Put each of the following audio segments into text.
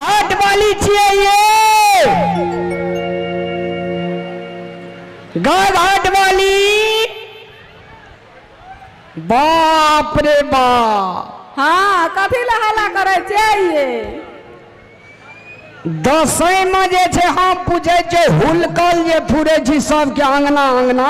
हाट वाली छिए ये गाग हाट वाली बाप रे बाप हाँ कथी लए हल्ला करै छियै दसैं में जे छै हम पूछे छै हुलकल जे फुरे छी सबके अंगना अंगना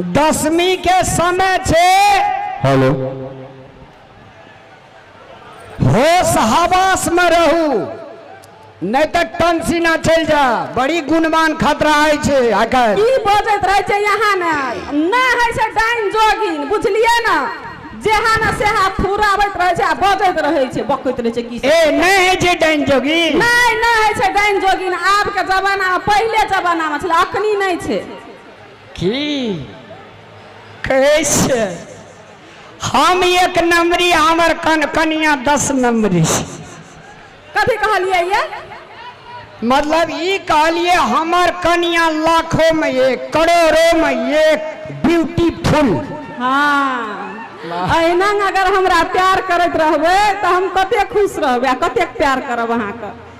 दसमी के समय छे हेलो होश हवास में रहू नहीं तो टंसिना चल जा बड़ी गुणवान खतरा है छे आकर की बजत रहे छे यहाँ ने ना है से डाइन जोगिन बुझलिए ना जेहा ना सेहा फुरावत रहे छे आ बजत रहे छे बकत रहे छे की ए नहीं है जे डाइन जोगी नहीं नहीं है से डाइन जोगिन आब के जमाना में पहले जमाना में छे अखनी नहीं छे की कहै छै हम एक नंबरी हमर कन कनिया दस नंबरी कथी कहलियै ये मतलब ई कहलिए हमर कनिया लाखों में एक करोड़ों में एक ब्यूटीफुल हाँ अहिना अगर हमरा प्यार करैत रहबै तऽ हम कते खुश रहबै आ कतेक प्यार करब अहाँके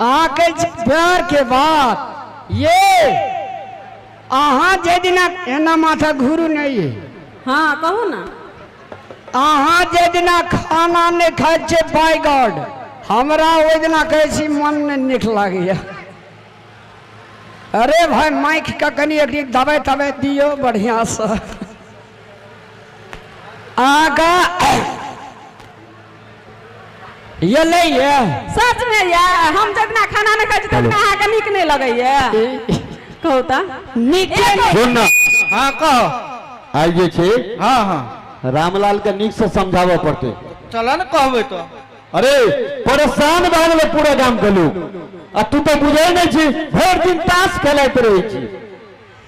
अहाँ कहै छी प्यार के बात ये अहाँ जे दिना एना माथा घुरू नहीं है हाँ कहू ना अहाँ जे दिना खाना नहीं खाए छे बाय गॉड हमरा ओहि दिना कहै छी मन नहीं नीक लागैए अरे भाई माइक का कनी एक दिन दबाइ तबाइ दियो बढ़िया से आगा ये ले ये सच में ये हम जब ना खाना नहीं खाई छी तब अहाँ के नीक नहीं लगे ये कहू त नीक सुन ना हाँ कहो आइ जे छै हाँ हाँ रामलाल के नीक से समझाबऽ पड़तै चलो ना कहबे तो अरे परेशान भए गेलै पूरा गाम के लोग आ तू तऽ बुझै नहि छी भरि दिन ताश खेलाइत रहै छी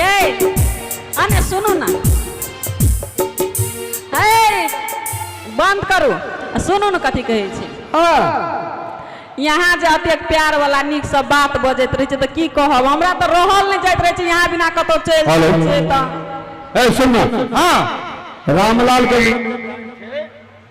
ये अने सुनू ना हे बंद करू आ सुनू ने कथी कहै छै हाँ यहाँ जे अतेक प्यार वाला नीक सब बात बजैत रहै छै तऽ की कहब हमरा तऽ रहल नहि जाइत रहै छै यहाँ बिना कतौ चलि हेलो। जाइ छै तऽ ए सुन ना हाँ रामलाल के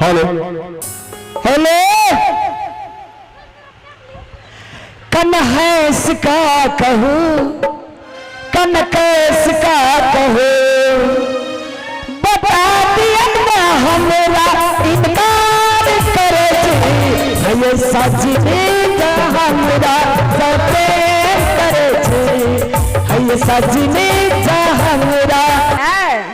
हेलो हेलो कन्हैस का कहू कनकैस का कहू बता दियन ना हमरा इनकार करे छी भैया सजनी का हमरा सते करे छी भैया सजनी का हमरा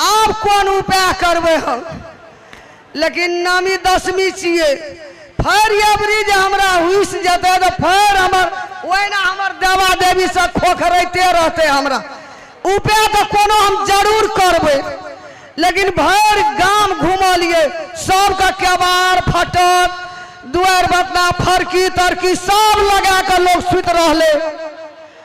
आब कोन उपाय करबै हम। लेकिन नामी दशमी छिए। फैर एबरी जे हमरा हुइस जेतै तँ फैर हमर ओहिना हमर देवा-देवी सभ खोखरैते रहतै हमरा। उपाय तँ कोनो हम जरूर करबै। लेकिन भैर गाम घुमलिए। सभकेँ केबाड़-फटक, दुआरि-बतना, फड़की-तड़की सभ लगाकऽ लोक सुति रहलै।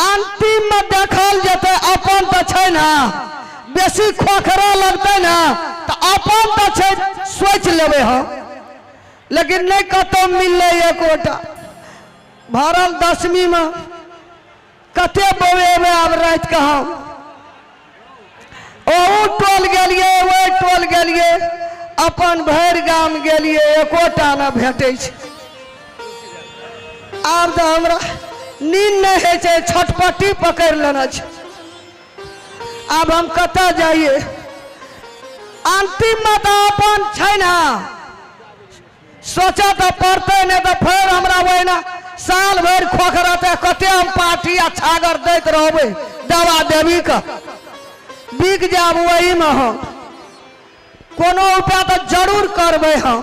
अंतिम में देखल जेतै अपन तऽ छै ने बेसी खोखरा लगतै ने तऽ अपन तऽ छै सोचि लेबै हम लेकिन नहि कतहु मिललै एकोटा भरल दसमी में कते बौएबै आब राति कऽ हम ओहू टोल गेलियै ओहि टोल गेलियै अपन भरि गाम गेलियै एकोटा नहि भेटै छै आब तऽ हमरा नींद नहि होइ छै छटपट्टी पकड़ि लेने छै आब हम कतऽ जाइए अन्तिममे तऽ अपन छै ने सोचऽ तऽ पड़तै नहि तऽ फेर हमरा ओहिना साल भरि खोखरते कते हम पाठी आ छागर दैत रहबै दवा देवी के बिक जायब ओहिमे हम कोनो उपाय तऽ जरूर करबै हम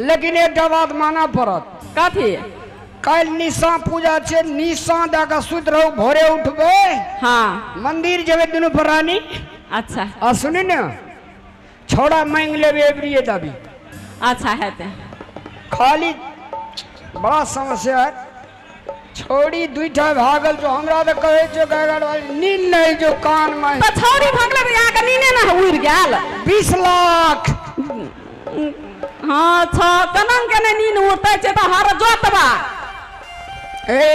लेकिन एकटा बात मानऽ पड़त। कथी? काल्हि निशां पूजा छै। निशां दऽ कऽ सुति रहू। भोरे उठबै। हँ। मंदिर जेबै दुनू परानी। अच्छा। आ सुनी ने, छौड़ा मांगि लेबै एबरिये दाबी। अच्छा, हेतै। खाली बड़ा समस्या अछि। छोड़ी दुईठा भागल जो हमरा तो कहे जो गड़गड़ वाली नींद नहीं जो कान में तो छोड़ी भागल तो यहाँ का नीने ना उड़ गल बीस लाख हाँ छो कनन के ने नीन उड़ते छे तो हर जोतवा ए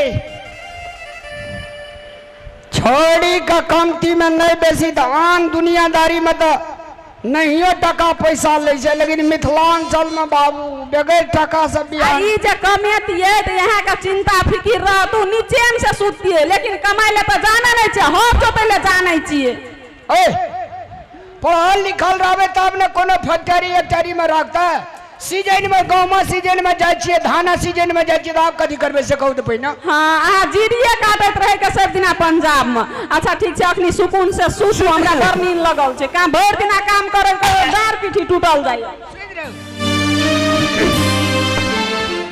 छोड़ी का कमती में नहीं बेसी तो आन दुनियादारी में तो नहियो टाका पैसा लै छै लेकिन मिथिलाञ्चलमे बाबू बेगर टाकासँ आ बियाह ई जे कमेतियै तऽ अहाँके चिन्ता फिकिर रहतू नीचेमे से सुततियै लेकिन कमाइ लए तऽ जानै नहि छियै हर जोतै लए जानै छियै ओह पढ़ल लिखल रहबै तब ने कोनो फैक्टरी एक्टरीमे रखतै सीजनमे गहूमक सीजनमे जाइ छियै धानक सीजनमे जाइ छियै तऽ आब कथी करबै से कहू तऽ पहिने हँ अहाँ जीरिये काटैत रहै के सभ दिना पंजाबमे अच्छा ठीक छै अखनी सुकून से सुतू हमरा बड़ नींद लगल छै काम भरि दिना काम करै करै डाँर पीठी टूटल जाइए सुति रहू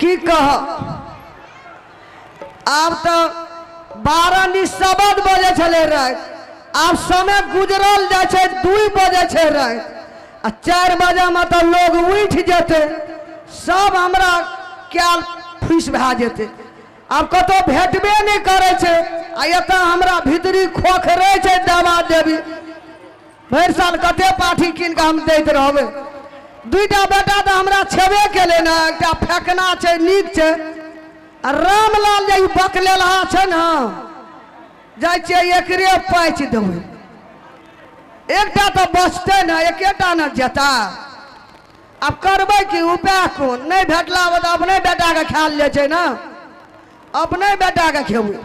की कह आब तो बारह नी सबद बजे छले राति आब समय गुजरल जाइ छै दुई बजे छै राति आ चारि बजेमे तऽ लोग उठि जेतै सब हमरा कयल फुसि भए जेतै आब कतहु भेटबे नहि करै छै आ एतऽ हमरा भीतरी खोखरै छै देवा देवी भरि साल कते पाठी कीन कऽ हम दैत रहबै दुइटा बेटा तऽ हमरा छेबे केलै ने एकटा फेकना छै नीक छै आ रामलाल जे ई बकलेलहा छै ने जाइ छियै एकरे पाचि देबै एकटा तऽ बचतै ने एकेटा ने जेता आब करबै की? उपाय कोन? नहि भेटला पर तऽ अपने बेटाकेँ खायल जाइत छै ने। अपने बेटाकेँ खेबै।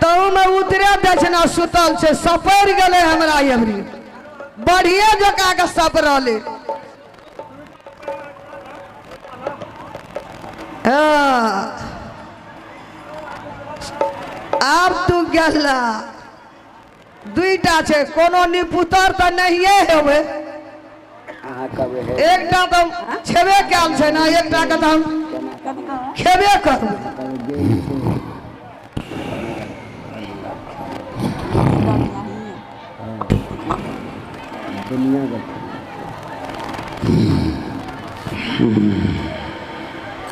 तहूमे उतरे दक्षिणा सुतल छै, सपरि गेलै हमरा एबरी। बढ़िए जकाँ कऽ सपरलै। हँ। आब तू गेला। दुइटा छै कोनो निपुतर तऽ नहिए हेबै अहाँ कहबै हे एकटा तऽ छेबे कयल छै ने एकटा के तऽ हम खेबे करबै दुनिया के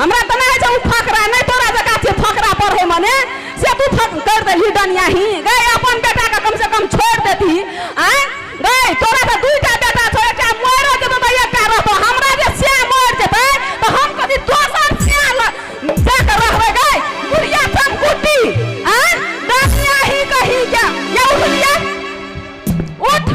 हमरा तऽ नहि छै ओ फकरा नहि तोरा जका छै फकरा पढ़ै मने से तू फक कर देलही डनिया ही गए अपन बेटा के कम से कम छोड़ देती आय गए तोरा तऽ दुईटा बेटा छौ एकटा मर जेतो तऽ एकटा रहतो हमरा जे से मर जेतै तऽ हम कथी दोसर से दे के रहबै गए बुढ़िया तुम कुटी आय डनिया ही कही के ये उठलिया उठ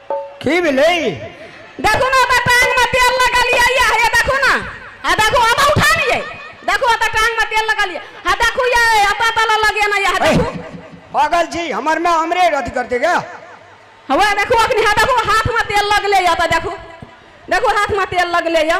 की भेलै देखू ने ओतऽ टांग में तेल लगलियै या हे देखू ने आ देखू हम उठानियै देखू ओतऽ टांग में तेल लगलियै हा देखू ये ओतऽ तल लगेना या हे ऐ, देखू पागल छी हमर में हमरे अथी करते क्या हवा देखू अखनी हा देखू हाथ में तेल लगले या ओतऽ देखू देखू हाथ में तेल लगले या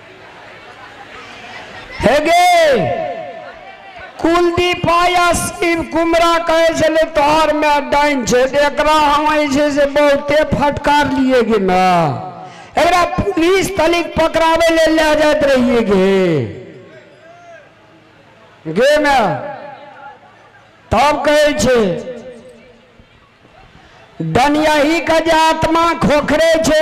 हेगे कुलदीप आया शिव कुमरा कहे छले तोहर में डाइन छै तऽ एकरा हम जे से बहुते फटकार लिए गे ना एकरा पुलिस तलिक पकड़ावे ले ले जात रहिए गे गे ना तब कहे छे डनियाही का जे आत्मा खोखरे छे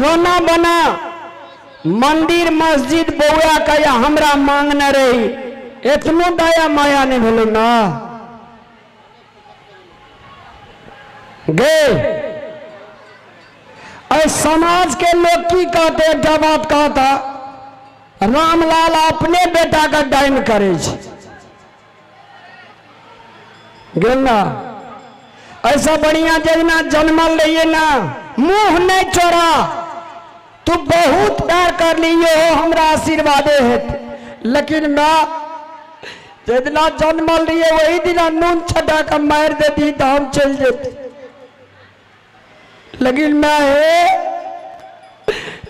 रोना बना मंदिर मस्जिद बौआ के या हमरा मांगने रही एतनो दया माया नहीं भेलो ना गे और समाज के लोग की कहते एकटा बात कहता रामलाल अपने बेटा के डाइन करे छै गेल ना ऐसा बढ़िया जगना जन्मल रहिए ना मुंह नहीं चोरा तू बहुत प्यार कर लिए हो हमरा आशीर्वादे हेत लेकिन ना जितना जन्मल रहिए वही दिना नून छटा के मार देती तो हम चल जेती लेकिन माँ हे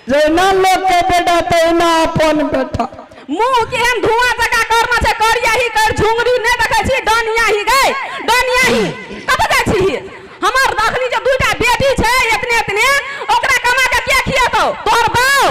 जहिना लोकके बेटा तहिना अपन बेटा मुंह केहन धुआं जका करना छै करिया ही कर झुंगरी नै देखै छी डनिया ही गई डनिया ही कत जाइ छी हमर अखनी जे दुटा बेटी छै इतने इतने ओकरा कमा के के खियातो तोर बाऊ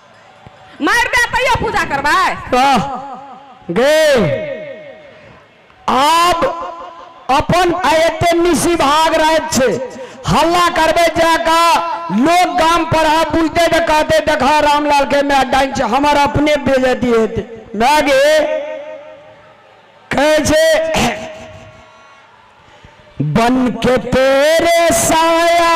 मारि दे तैयो पूजा करबै कह गेल आब अपन आ एते निशी भाग राति छै हल्ला करबै जा का लोग गाम पर आ बुझते तऽ कहते देखा रामलाल के माय डाइन छै हमर अपने बेजती हेतै माय गे कहै छै बन के तेरे साया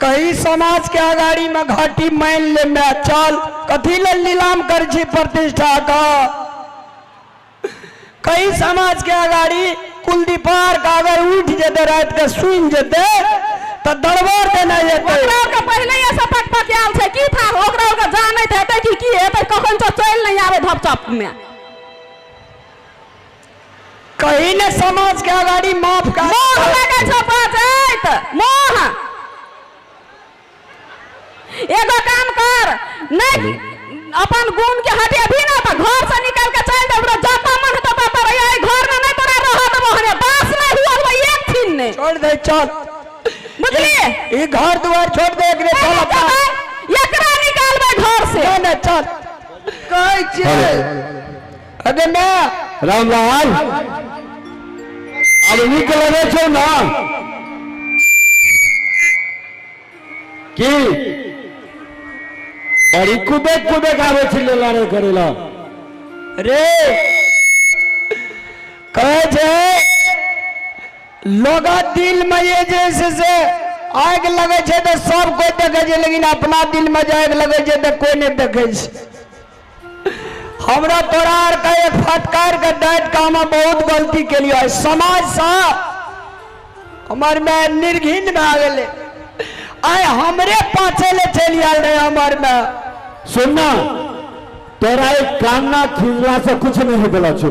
कही समाज के अगाड़ी मे घाटी मानि ले मै चल कथी लेल नीलाम करै छी प्रतिष्ठा क कही समाज के अगाड़ी कुलदीपार का अगर उठ जेते रात के सुन जेते तो दरबार देना जेते ओकरा के पहले ये सब पक पक आल छै की था ओकरा ओकरा जानैत हेतै कि की हेतै कखन तो चल नहीं आवे धपचप में कहि ने समाज के अगाडि माफ कए मोह देतै। लगै छौ बाजैत मोह एगो काम कर नै हेलो अपन गुण के हटेबही ने तऽ घर से निकाल के चलि देबौ रे जतऽ मन हेतौ ततऽ रहिहे एहि घर मे नै तोरा रहऽ देबौ हम हे बास नै हुअ देबौ एक छिन नै छोड़ दे चल बुझलिए ई घर दुआर छोड़ दे एकरे चल चल अपना जेबै, एकरा निकालबै घर से ना ना चल कहै छियै हेलो अरे ना रामलाल अब नीक लगे छौ ना की बड़ी कुदे कुदे गावे छी लेला रे करेला रे कहे छे लोग दिल में ये जैसे से आग लगे छे तो सब कोई देखे छे लेकिन अपना दिल में जे आग लगे छे तो कोई नहीं देखे छे हमरा तोरा आरके एक फटकारके डाँटि कऽ हम बहुत गलती केलियै समाजसँ हमर माय निर्घिन भए गेलै आइ हमरे पाछे ले चलि आयल रहे हमर माय सुनना तोरा एक कान्ना खिलला से कुछ नहीं बोला छो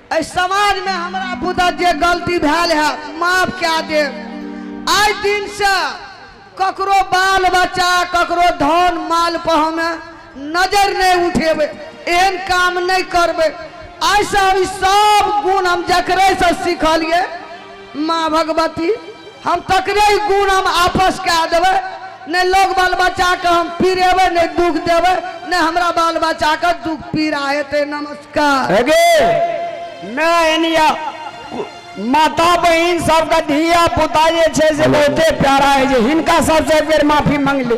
एहि समाज मे हमरा बुते जे गलती भेल हैत माफ कए देब। आइ दिन सँ ककरो बाल बच्चा ककरो धन माल पर हम नजरि नहि उठेबै। एहन काम नहि करबै। आइ सँ हम ई सब गुण हम जकरे सँ सिखलियै। माँ भगवती हम तकरे ई गुण हम आपस कए देबै नहि लोक बाल बच्चाके हम पीड़ेबै नहि दुख देबै नहि हमरा बाल बच्चाके दुख पीड़ा हेतै नमस्कार हेगे माय यानी या माता बहिन सबके धिया पुता जे छै से बहुते प्यारा है जे हिनका सबसे एक बेर माफी मांगले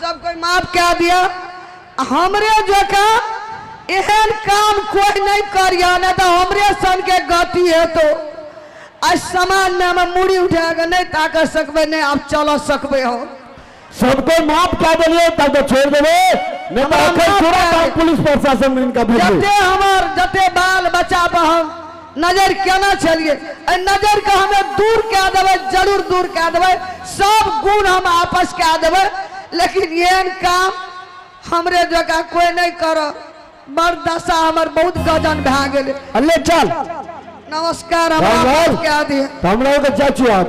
सब कोई माफ कए दिअ आ हमरे जकाँ एहन काम कोई नहि करिह नहि तऽ हमरे सनके गति हेतौ एहि समाजमे मूड़ी उठा कऽ नहि ताकऽ सकबै नहि आब चलऽ सकबै हम सबको माफ कए देलियै तब तऽ छोड़ि देबै नहि तऽ हमरा एखन माफ पूरा कए काम दे। पुलिस प्रशासन इनका भेजबै जते हमर जते बाल बच्चा पर हम नजरि केने छलिऐ। एहि नजरिकेँ हमे दूर कए देबै, जरूर दूर कए देबै। सभ गुण हम आपस कए देबै। लेकिन एहन काम हमरे जकाँ कोइ नहि करत। बड़ दशा हमर बहुत गजन भए गेलै। ले चल। नमस्कार, हमरा माफ कए दिहऽ। हमराओ के जाइ छियै हम।